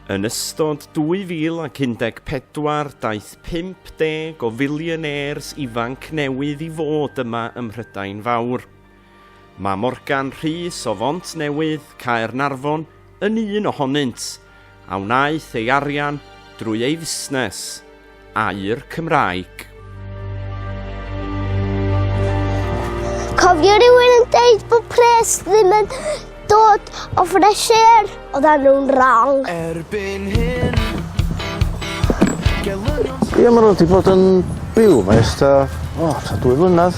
Yn ystod 2014, daeth 50 o filiynêrs ifanc newydd i fod yma ym Mhrydain Fawr. Mae Morgan Rhys o Font Newydd, Caernarfon, yn un ohonynt, a wnaeth ei arian drwy ei fusnes, Aur Cymraeg. Cofio rhywun yn deud bod pres ddim yn dod o fresh air, oedden nhw'n wrong. Erbyn hyn, Ie, mae nhw wedi bod yn byw mae esta, o, ta dwy flynedd.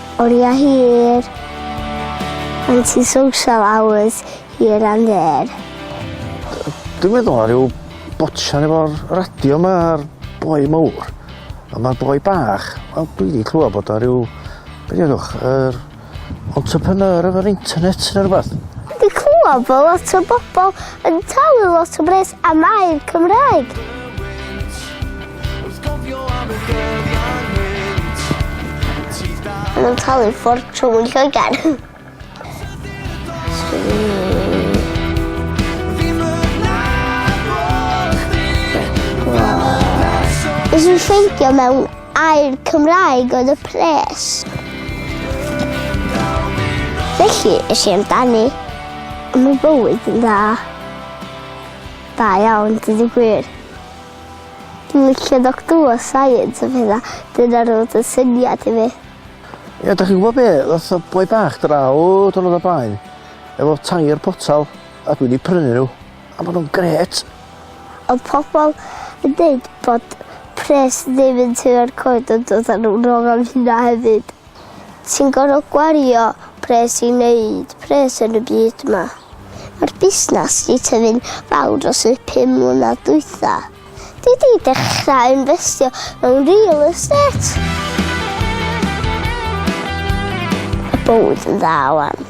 Oriau hir. Anti-social hours here and there. Dwi'n meddwl na rhyw botchan efo'r radio yma a'r boi mowr. A mae'r boi bach, wel dwi wedi clywed bod o rhyw, be di enwch, yr entrepreneur efo'r internet neu rhywbeth. Di clywed bod lot o bobl yn talu lot o bres am air Cymraeg. Wrth gofio am y dyddiau gwynt Sydd da Ma' nw'n talu ffortiwn yn Lloeger. Nes i ffeindio mewn air Cymraeg oedd y pres. Felly, es i amdani. Mae bywyd yn dda. Da iawn, dweud y gwir. Dwi'n licio Doctor Who a science a pethau, dyna roedd y syniad i fi. Ia, dach chi'n gwybod be, ddoth y boi bach draw diwrnod o'r blaen efo tair potal a dwi wedi prynu nhw a maen nhw'n gret. Oedd pobl yn dweud bod pres ddim yn tua'r coed ond oedd nhw'n wrong am hynna hefyd. Ti'n gorfod gwario pres i wneud pres yn y byd 'ma. Mae'r busnes 'di tyfu'n fawr dros y pum mlynedd dwytha. Dwi 'di dechrau infestio mewn real estate. Mae bywyd yn dda 'wan.